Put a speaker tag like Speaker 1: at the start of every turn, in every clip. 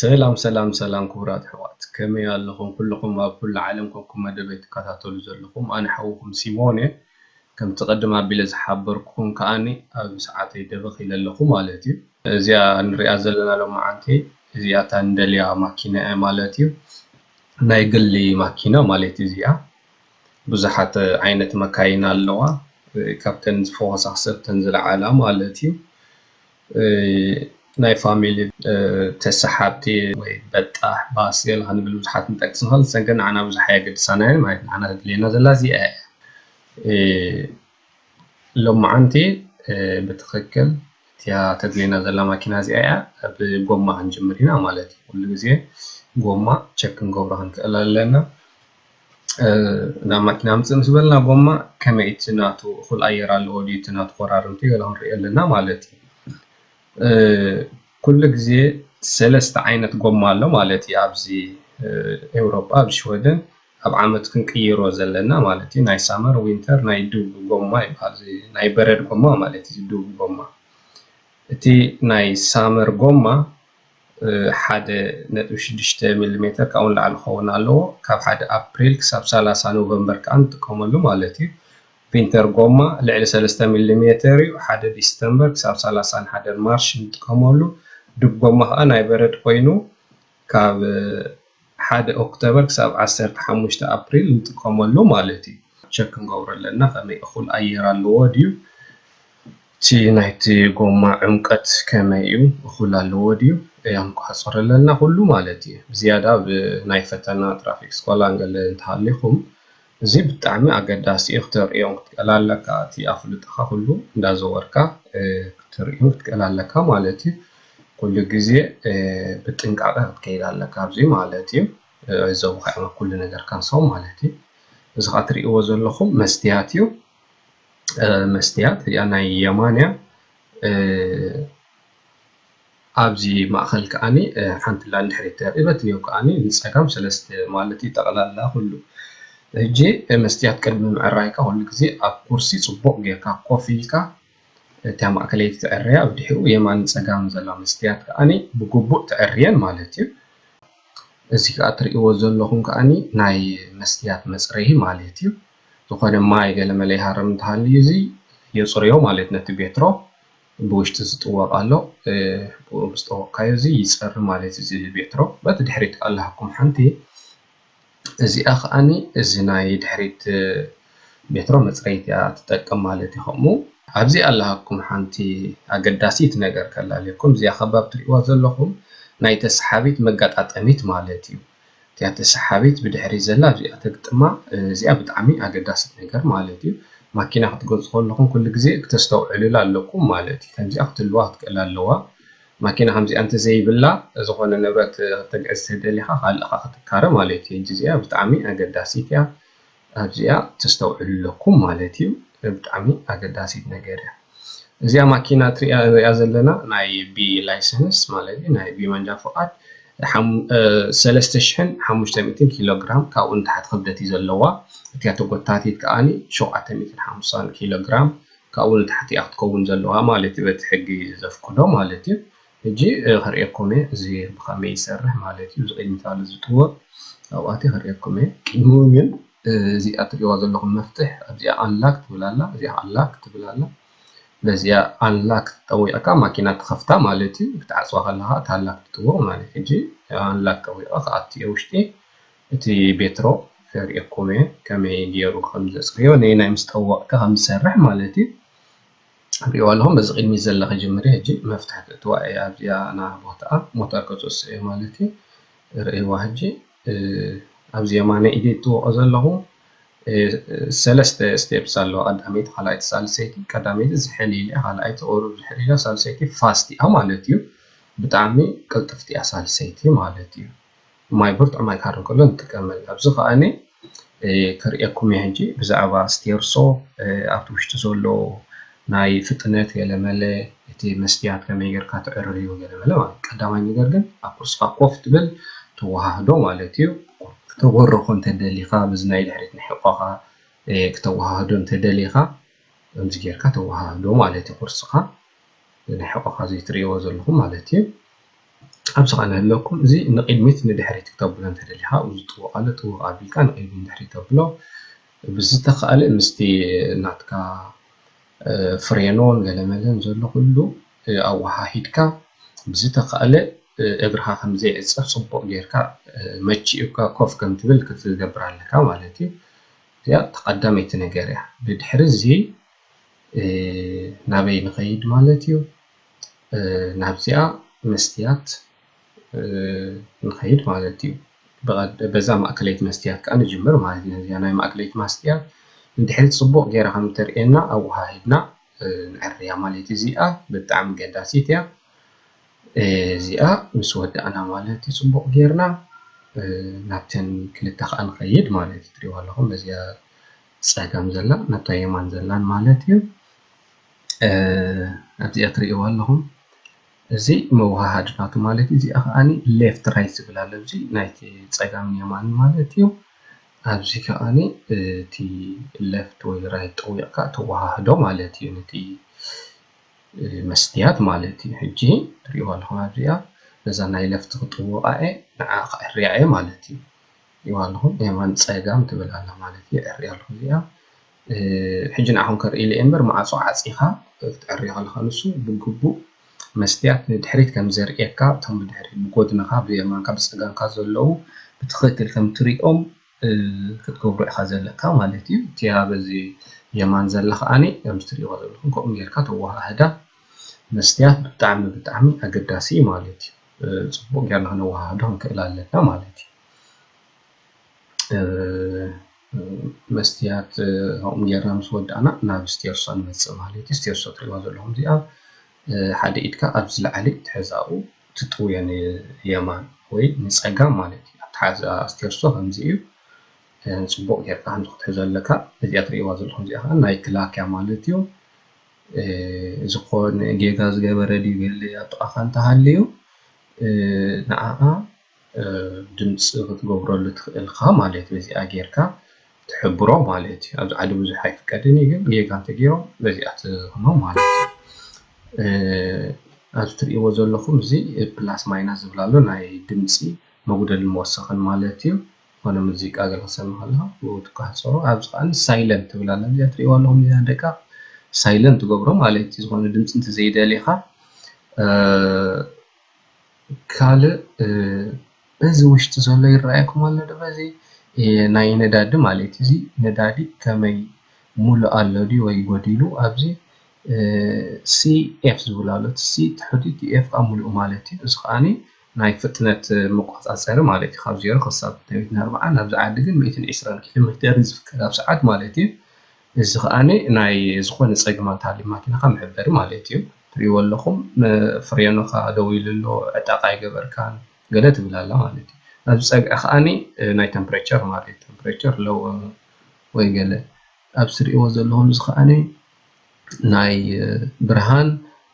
Speaker 1: ሰላም ሰላም ሰላም ክቡራት ኣሕዋት ከመይ ኣለኹም ኩሉኹም ኣብ ኩሉ ዓለም ኮንኩም መደበይ ትከታተሉ ዘለኹም ኣነ ሓውኹም ሲሞን እየ ከምቲ ቅድም ኣቢለ ዝሓበርኩኹም ከኣኒ ኣብ ሰዓተይ ደበኽ ኢለ ኣለኹ ማለት እዩ እዚኣ ንሪኣ ዘለና ሎማዓንቲ እዚኣታ ንደልያ ማኪና እያ ማለት እዩ ናይ ግሊ ማኪና ማለት እዚኣ ብዙሓት ዓይነት መካይን ኣለዋ ካብተን ዝፈኮሳ ሰብተን ዝለዓላ ማለት እዩ ናይ ፋሚሊ ተሳሓብቲ ወይ በጣሕ ባስ ገለ ክንብል ብዙሓት ክንጠቅስ ንክእል ንሰን ግን ንዓና ብዙሕ ኣየገድሳና እየን ማለት ንዓና ተድልየና ዘላ እዚኣ እያ። ሎማዓንቲ ብትክክል እቲኣ ተድልየና ዘላ ማኪና እዚኣ እያ ብጎማ ክንጅምር ኢና ማለት እዩ ኩሉ ግዜ ጎማ ቸክ ክንገብሮ ክንክእል ኣለና ናብ ማኪና ኣምፅእ ምስ በልና ጎማ ከመይ እቲ ናቱ እኩል ኣየር ኣለዎ ድዩ እቲ ናቱ ኮራርምቲ ገለ ክንሪኢ ኣለና ማለት እዩ ኩሉ ግዜ ሰለስተ ዓይነት ጎማ ኣሎ ማለት እዩ ኣብዚ ኤውሮጳ ኣብ ሽወደን ኣብ ዓመት ክንቅይሮ ዘለና ማለት እዩ ናይ ሳመር ዊንተር ናይ ዱብ ጎማ ይብሃል እዚ ናይ በረድ ጎማ ማለት እዩ እዚ ዱብ ጎማ እቲ ናይ ሳመር ጎማ ሓደ ነጥቢ ሽዱሽተ ሚሊሜተር ካብኡ ንላዕሊ ክኸውን ኣለዎ ካብ ሓደ ኣፕሪል ክሳብ ሰላሳ ኖቨምበር ከዓ ንጥቀመሉ ማለት እዩ ዊንተር ጎማ ልዕሊ ሰለስተ ሚሊሜተር እዩ ሓደ ዲስተምበር ክሳብ ሰላሳን ሓደን ማርች ንጥቀመሉ ዱብ ጎማ ከዓ ናይ በረድ ኮይኑ ካብ ሓደ ኦክተበር ክሳብ ዓሰርተ ሓሙሽተ ኣፕሪል ንጥቀመሉ ማለት እዩ። ቸክ ክንገብሮ ኣለና ከመይ እኹል ኣየር ኣለዎ ድዩ እቲ ናይቲ ጎማ ዕምቀት ከመይ እዩ እኹል ኣለዎ ድዩ እያ ንቆፃፀሮ ኣለና ኩሉ ማለት እዩ። ብዝያዳ ኣብ ናይ ፈተና ትራፊክ ስኮላን ገለ እንተሃሊኹም እዚ ብጣዕሚ ኣገዳሲ እዩ ክተርእዮን ክትቀል ኣለካ እቲ ኣፍልጦካ ኩሉ እንዳዘወርካ ክትርእዮን ክትቀል ኣለካ ማለት እዩ ኩሉ ግዜ ብጥንቃቀ ክትከይድ ኣለካ ኣብዚ ማለት እዩ ክዕዘቡካ እዮም ኣብ ኩሉ ነገርካ ንሶም ማለት እዩ እዚ ከኣ ትርእይዎ ዘለኩም መስትያት እዩ መስትያት እዚኣ ናይ የማን እያ። ኣብዚ ማእከል ከኣኒ ሓንቲ ላንድ ሕሪት ተርኢ በቲ ኔው ከኣኒ ንጸጋም ሰለስተ ማለት እዩ ጠቅላላ ኩሉ ሕጂ መስትያት ቅድሚ ምዕራይካ ኩሉ ግዜ ኣብ ኩርሲ ጽቡቅ ጌርካ ኮፍ ኢልካ እታ ማእከለይቲ ትዕረያ ብድሕሪኡ የማንን ጸጋምን ዘላ መስትያት ከኣኒ ብግቡእ ትዕርየን ማለት እዩ እዚ ከኣ ትርእይዎ ዘለኹም ከኣኒ ናይ መስትያት መጽረዪ ማለት እዩ ዝኾነ ማይ ገለመለ ይሃርም እንተሃልዩ እዚ የጽርዮ ማለት ነቲ ቤትሮ። ብውሽጢ ዝጥወቅ ኣሎ ብኡ ምስ ጠወቅካዮ እዚ ይጸሪ ማለት እዚ ቤትሮ በቲ ድሕሪት ኣላኩም ሓንቲ እዚኣ ከኣኒ እዚ ናይ ድሕሪት ቤትሮ መጽረይት እያ ትጠቅም ማለት እዩ ከምኡ ኣብዚ ኣላኩም ሓንቲ ኣገዳሲት ነገር ከላልየኩም እዚኣ ከብ ኣብ ትሪእዋ ዘለኩም ናይ ተስሓቢት መጋጣጠሚት ማለት እዩ። እቲኣቲ ሰሓቢት ብድሕሪት ዘላ ኣብዚኣ ተግጥማ እዚኣ ብጣዕሚ ኣገዳሲት ነገር ማለት እዩ ማኪና ክትገዙ ከለኹም ኩሉ ግዜ ክተስተውዕሉላ ኣለኩም ማለት እዩ ከምዚኣ ክትልዋ ክትክእል ኣለዋ ማኪና ከምዚኣ እንተዘይብላ ዝኾነ ንብረት ክተግዕዝ ተደሊኻ ካልእኻ ክትካረ ማለት እዩ እዚኣ ብጣዕሚ ኣገዳሲት እያ ኣብዚኣ ተስተውዕሉ ኣለኩም ማለት እዩ ብጣዕሚ ኣገዳሲት ነገር እያ እዚኣ ማኪና ትሪኣ ንሪኣ ዘለና ናይ ቢ ላይሰንስ ማለት እዩ ናይ ቢ መንጃ ፍቓድ ሰለስተ ሽሕን ሓሙሽተ ሚእትን ኪሎ ግራም ካብኡ ንታሕቲ ክብደት እዩ ዘለዋ እቲያ ተጎታቲት ከዓኒ ሸውዓተ ሚእትን ሓምሳን ኪሎ ግራም ካብኡ ንታሕቲ እያ ክትከውን ዘለዋ ማለት እዩ በቲ ሕጊ ዘፍቅዶ ማለት እዩ ሕጂ ከርእየኩም እየ እዚ ብከመይ ይሰርሕ ማለት እዩ እዚ ቅድሚት ኣሎ ዝጥወቅ ኣብኡ ኣትየ ከርእየኩም እየ ቅድሙ ግን እዚኣ ትርእይዋ ዘለኹም መፍትሕ ኣብዚኣ ኣንላክ ትብል ኣላ እዚኣ ከዓ ላክ ትብል ኣላ በዚኣ ኣንላክ ጠዊቅካ ማኪና ትኸፍታ ማለት እዩ ክትዓፅዋ ከለኻ እታ ኣንላክ ትጥወቅ ማለት እዩ ሕጂ ኣንላክ ጠዊቀ ክኣቱ እየ ውሽጢ እቲ ቤትሮ ከርእየኩም እየ ከመይ ገይሩ ከም ዘፅርዮ ነየናይ ምስ ጠወቅካ ከም ዝሰርሕ ማለት እዩ ሪእዋ ኣለኹ በዚ ቅድሚት ዘላ ክጅምር እየ ሕጂ መፍትሒ ክእትዋ እየ ኣብዚኣ ና ቦታኣ ሞተር ከፅሱ እየ ማለት እዩ ርእይዋ ሕጂ ኣብዚ የማነ ኢደ እትወቆ ዘለኹ ሰለስተ ስቴፕስ ኣለዋ ቀዳመይቲ ካልኣይቲ ሳልሰይቲ ቀዳመይቲ ዝሕል ኢለ ካልኣይቲ ቁሩብ ዝሕል ኢላ ሳልሰይቲ ፋስት እያ ማለት እዩ ብጣዕሚ ቅልጥፍቲ እያ ሳልሰይቲ ማለት እዩ ማይ ብርቱዕ ማይ ክሃርም ከሎ ንጥቀመሉ። ኣብዚ ከኣኒ ከርእየኩም እየ ሕጂ ብዛዕባ ስቴርሶ ኣብቲ ውሽጢ ዘሎ ናይ ፍጥነት ገለመለ እቲ መስትያት ከመይ ጌርካ ተዕርዮ ገለመለ ማለት እዩ። ቀዳማይ ነገር ግን ኣብ ኩርስኻ ኮፍ ትብል ተወሃህዶ ማለት እዩ። ክተበርኾ እንተደሊኻ በዚ ናይ ድሕሪት ንሕቆኻ ክተወሃህዶ እንተደሊኻ ከምዚ ጌርካ ተወሃህዶ ማለት እዩ። ኩርስኻ ንሕቆኻ ዘይትርእይዎ ዘለኹም ማለት እዩ። ኣብዚ ኸኣ እንሀለኩም እዚ ንቅድሚት ንድሕሪት ክተብሎ እንተደሊኻ ኣብዚ ጥውቕ ኣሎ ጥውቕ ኣቢልካ ንቅድሚት ንድሕሪት ተብሎ ብዝተኻእለ ምስቲ ናትካ ፍሬኖን ገለመለን ዘሎ ኩሉ ኣወሃሂድካ ብዝተኻእለ እግርኻ ከም ዘይዕጸፍ ጽቡቕ ጌርካ መቺኡካ ኮፍ ከም ትብል ክትገብር ኣለካ ማለት እዩ እዚኣ እታ ቀዳመይቲ ነገር እያ ድድሕሪ እዚ ናበይ ንኸይድ ማለት እዩ ናብዚኣ መስትያት ንኸይድ ማለት እዩ። በዛ ማእከለይቲ መስትያት ከኣ ንጅምር ማለት እዩ። ነዚኣ ናይ ማእከለይቲ ማስትያት እንድሕሪ ጽቡቕ ጌራ ከም እተርእየና ኣወሃሂድና ነዐርያ ማለት እዩ። እዚኣ ብጣዕሚ ኣገዳሲት እያ። እዚኣ ምስ ወዳእና ማለት እዩ ጽቡቕ ጌርና ናብተን ክልተ ከኣ ንኸይድ ማለት እዩ። ትርእይዋ ኣለኹም በዚኣ ጸጋም ዘላ ናብታ የማን ዘላን ማለት እዩ። ኣብዚኣ ትሪእዋ ኣለኹም እዚ መወሃሃዲ ናቱ ማለት እዩ። እዚኣ ከዓኒ ሌፍት ራይት ዝብል ኣሎ ኣብዚ ናይ ፀጋምን የማንን ማለት እዩ። ኣብዚ ከዓኒ እቲ ሌፍት ወይ ራይት ጠዊቕካ ተወሃህዶ ማለት እዩ ነቲ መስትያት ማለት እዩ። ሕጂ ትሪእዋ ኣለኹም ኣብዚኣ ነዛ ናይ ሌፍት ክጥውቓ እየ ንዓዓ ከዐርያ እየ ማለት እዩ። ትሪእዋ ኣለኹም የማን ፀጋም ትብል ኣላ ማለት እዩ። የዐርያ ኣለኹ እዚኣ ሕጂ ንዓኹም ከርእይለይ እምበር ማዕጾ ዓጺኻ ክትዕሪ ከለኻ ንሱ ብግቡእ መስትያት ንድሕሪት ከም ዘርእየካ እቶም ብድሕሪት ብጎድንኻ ብየማንካ ብጸጋምካ ዘለዉ ብትኽክል ከም ትሪኦም ክትገብሮ ኢኻ ዘለካ ማለት እዩ እቲኣ በዚ የማን ዘላ ከኣኒ ከምዚ ትሪእዎ ዘለኹም ከምኡ ጌርካ ተወሃህዳ መስትያት ብጣዕሚ ብጣዕሚ ኣገዳሲ እዩ ማለት እዩ ጽቡቕ ጌርና ክነወሃህዶ ክንክእል ኣለና ማለት እዩ መስትያት ከምኡ ጌርና ምስ ወዳእና ናብ ስቴርሶ ንመፅእ ማለት እዩ። ስቴርሶ እትሪእዋ ዘለኹም እዚኣ ሓደ ኢድካ ኣብ ዝለዓለ ትሕዝ ኣብኡ ትጥውዮ ንየማን ወይ ንፀጋም ማለት እዩ። ኣተሓሕዛ ስቴርሶ ከምዚ እዩ። ፅቡቕ ጌርካ ከምዚ ክትሕዞ ኣለካ። እዚኣ እትሪእዋ ዘለኹም እዚኣ ኻዓ ናይ ክላክያ ማለት እዩ። ዝኾነ ጌጋ ዝገበረ ድዩ ገለ ኣብ ጥቓኻ እንተሃልዩ ንዓዓ ድምፂ ክትገብረሉ ትኽእል ኢኻ ማለት እዩ። በዚኣ ጌርካ ትሕብሮ ማለት እዩ። ኣብዚ ዓዲ ብዙሕ ኣይፍቀድን እዩ ግን ጌጋ እንተገይሮም በዚኣ ትህቦም ማለት እዩ። ኣብዚ ትሪእዎ ዘለኹም እዚ ፕላስ ማይናስ ዝብል ኣሎ ናይ ድምፂ መጉደልን መወሰኽን ማለት እዩ። ዝኾነ ሙዚቃ ገለ ክትሰምዕ ከለኻ ብኡ ትቋሕፀሮ። ኣብዚ ከዓ ሳይለንት ትብል ኣላ እዚኣ ትሪእዋ ኣለኹም እዚኣ ደቂቕ ሳይለንት ትገብሮ ማለት እዩ። ዝኾነ ድምፂ እንተዘይደሊኻ ካልእ በዚ ውሽጢ ዘሎ ይረኣየኩም ኣሎ ዶ በዚ ናይ ነዳዲ ማለት እዩ እዚ ነዳዲ ከመይ ሙሉእ ኣሎ ድዩ ወይ ጎዲሉ ኣብዚ CF ዝብል ኣሎ እቲ C ትሑት እዩ እቲ F ከኣ ሙሉእ ማለት እዩ እዚ ከኣ ናይ ፍጥነት መቆጻጸሪ ማለት እዩ ካብ ዜሮ ክሳብ ሚእትን ኣርባዓን ኣብዚ ዓዲ ግን ሚእትን ዕስራን ኪሎሜተር እዩ ዝፍቀድ ኣብ ሰዓት ማለት እዩ። እዚ ከኣ ናይ ዝኮነ ጸግማት ኣሊማትናካ መሕበሪ ማለት እዩ ትሪኢዎ ኣለኩም ፍሬኖካ ደው ኢሉ ኣሎ ዕጣቅ ኣይገበርካን ገለ ትብል ኣላ ማለት እዩ ኣብዚ ጸግዒ ከኣ ናይ ተምፕሬቸር ማለት እዩ ተምፕሬቸር ሎው ወይ ገለ ኣብዚ ትሪኢዎ ዘለኩም እዚ ከኣ ናይ ብርሃን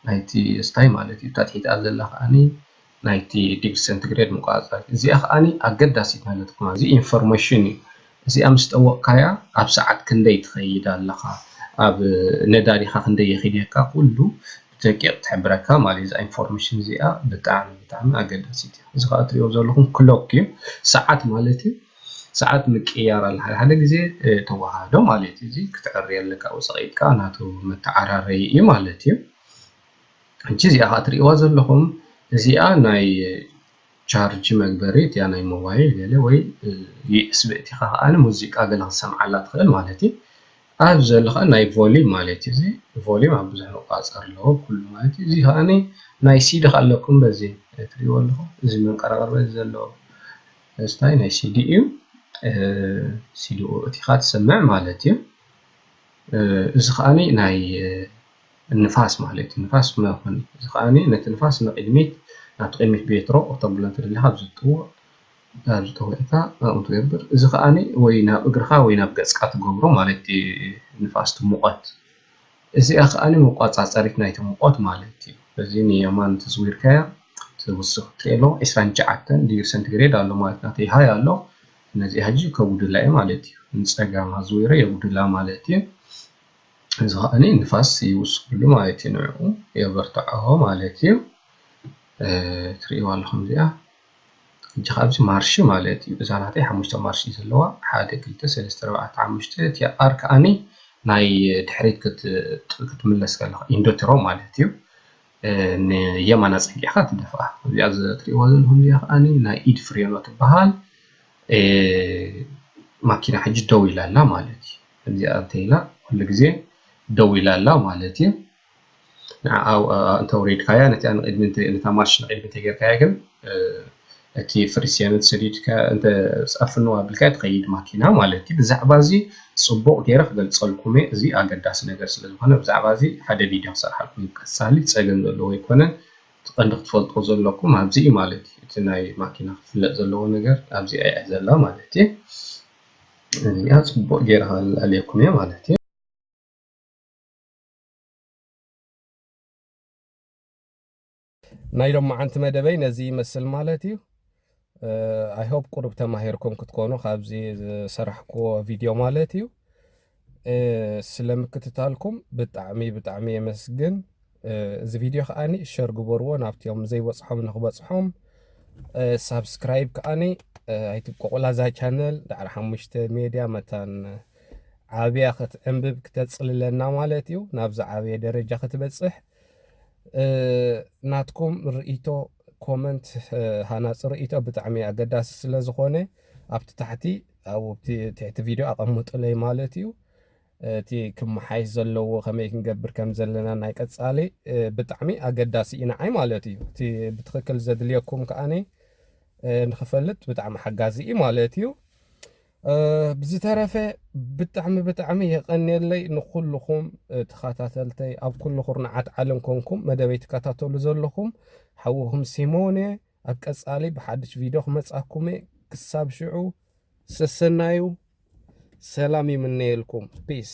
Speaker 1: ናይቲ ስታይ ማለት እዩ እታ ትሒትኣ ዘላ ከኣ ናይቲ ዲግሪ ሰንቲግሬድ መቆጻጸሪት። እዚኣ ከኣ ኣገዳሲት ማለት ኩማ እዚ ኢንፎርመሽን እዩ። እዚኣ ምስ ጠወቅካያ ኣብ ሰዓት ክንደይ ትኸይድ ኣለኻ ኣብ ነዳዲኻ ክንደይ የኺድየካ ኩሉ ብደቂቅ ትሕብረካ ማለት እዩ። እዛ ኢንፎርመሽን እዚኣ ብጣዕሚ ብጣዕሚ ኣገዳሲት እያ። እዚ ከኣ እትሪእዎ ዘለኹም ክሎክ እዩ ሰዓት ማለት እዩ። ሰዓት ምቅይያር ኣለ ሓደ ሓደ ግዜ ተወሃህዶ ማለት እዩ። እዚ ክትዕሪ ኣለካ ውጽቒትካ ናቱ መተዓራረዪ እዩ ማለት እዩ። ሕጂ እዚኣ ከኣ ትሪእዋ ዘለኹም እዚኣ ናይ ቻርጅ መግበሪ እቲኣ ናይ ሞባይል ገለ ወይ ዩኤስቢ እቲኻ ከኣ ሙዚቃ ገለ ክትሰምዓላ ትኽእል ማለት እዩ ኣብዚ ዘሎ ከኣ ናይ ቮሊም ማለት እዩ እዚ ቮሊም ኣብ ብዙሕ መቆፃፀሪ ኣለዎ ኩሉ ማለት እዩ እዚ ከኣ ናይ ሲዲ ከኣ ኣለኩም በዚ ትሪእዎ ኣለኹም እዚ መንቀራቕሪ በዚ ዘሎ ስታይ ናይ ሲዲ እዩ ሲዲ እቲኻ ትሰምዕ ማለት እዩ እዚ ከኣ ናይ ንፋስ ማለት እዩ ንፋስ መኾኒ እዚ ከኣ ነቲ ንፋስ ንቕድሚት ናብቲ ቅድሚት ቤትሮ ክተብሎ እንተደሊኻ ኣብዚ ዝጥውቕ ኣብዚ ጠዊቕካ ከምኡ ትገብር እዚ ከኣ ወይ ናብ እግርኻ ወይ ናብ ገጽካ ትገብሮ ማለት እዩ ንፋስ እቲ ሙቐት እዚኣ ከኣ መቆጻጸሪት ናይቲ ሙቐት ማለት እዩ እዚ ንየማን ተዝዊርካያ ትውስኽ ቴሎ ዕስራን ትሽዓተን ዲግሪ ሰንቲግሬድ ኣሎ ማለት እዩ ናተይ ሃይ ኣሎ ነዚኣ ሕጂ ከውድላ እየ ማለት እዩ ንጸጋም ኣዝዊረ የውድላ ማለት እዩ እዚ ከዓኒ ንፋስ ይውስከሉ ማለት እዩ ንዕኡ የበርትዖ ማለት እዩ ትሪእዋ ኣለኹም እዚኣ ሕጂ ከኣ እዚ ማርሽ ማለት እዩ እዛ ናተይ ሓሙሽተ ማርሽ እዩ ዘለዋ ሓደ ክልተ ሰለስተ ኣርባዕተ ሓሙሽተ እቲኣ ኣር ከዓኒ ናይ ድሕሪት ክትምለስ ከለኻ ኢንዶትሮ ማለት እዩ ንየማን ኣጸጊዕካ ትደፍኣ እዚኣ ትሪእዋ ዘለኹም እዚኣ ከዓኒ ናይ ኢድ ፍሬኖ ትበሃል። ማኪና ሕጂ ደው ኢላ ኣላ ማለት እዩ ከምዚኣ እንተኢላ ኩሉ ግዜ ደው ኢላ ኣላ ማለት እዩ ንዓኣ እንተውሪድካያ ነቲኣ ንቅድሚ ነታ ማርሽ ንቅድሚ እንተጌርካያ ግን እቲ ፍሪስዮን እንተሰዲድካያ ኣብ ፍንው ኣቢልካያ ትኸይድ ማኪና ማለት እዩ ብዛዕባ እዚ ፅቡቅ ጌረ ክገልፀልኩም እየ እዚ ኣገዳሲ ነገር ስለዝኾነ ብዛዕባ እዚ ሓደ ቪድዮ ክሰርሓልኩም እየ ቀፃሊ ፀገም ዘለዎ ኣይኮነን እቲ ቀንዲ ክትፈልጥዎ ዘለኩም ኣብዚ እዩ ማለት እዩ እቲ ናይ ማኪና ክፍለጥ ዘለዎ ነገር ኣብዚኣ እያ ዘላ ማለት እዩ እዚኣ ፅቡቅ ገይረ ከላልየኩም እየ ማለት እዩ ናይ ሎማዓንቲ መደበይ ነዚ ይመስል ማለት እዩ። ኣይ ሆፕ ቁሩብ ተማሂርኩም ክትኮኑ ካብዚ ዝሰራሕክዎ ቪድዮ ማለት እዩ ስለ ምክትታልኩም ብጣዕሚ ብጣዕሚ የመስግን እዚ ቪድዮ ከዓኒ ሸር ግበርዎ ናብቲኦም ዘይበፅሖም ንክበፅሖም ሳብስክራይብ ከዓኒ ኣይትብቆቑላ እዛ ቻነል ዳዕሪ ሓሙሽተ ሜድያ መታን ዓብያ ክትዕንብብ ክተፅልለና ማለት እዩ ናብዚ ዓብየ ደረጃ ክትበፅሕ ናትኩም ርእይቶ ኮመንት ሃናጺ ርእይቶ ብጣዕሚ ኣገዳሲ ስለ ዝኾነ ኣብቲ ታሕቲ ኣብቲ ትሕቲ ቪድዮ ኣቐምጡለይ ማለት እዩ እቲ ክመሓይሽ ዘለዎ ከመይ ክንገብር ከም ዘለና ናይ ቀጻሊ ብጣዕሚ ኣገዳሲ እዩ ንዓይ ማለት እዩ እቲ ብትኽክል ዘድልየኩም ከዓኒ ንክፈልጥ ብጣዕሚ ሓጋዚ እዩ ማለት እዩ ብዝተረፈ ብጣዕሚ ብጣዕሚ የቀኔለይ ንኩልኩም ተካታተልተይ ኣብ ኩሉ ኩርናዓት ዓለም ኮንኩም መደበይ ትካታተሉ ዘለኩም ሓውኩም ሲሞን እየ ኣብ ቀጻሊ ብሓድሽ ቪድዮ ክመጻኩም እየ ክሳብ ሽዑ ሰሰናዩ ሰላም ይምነየልኩም ፒስ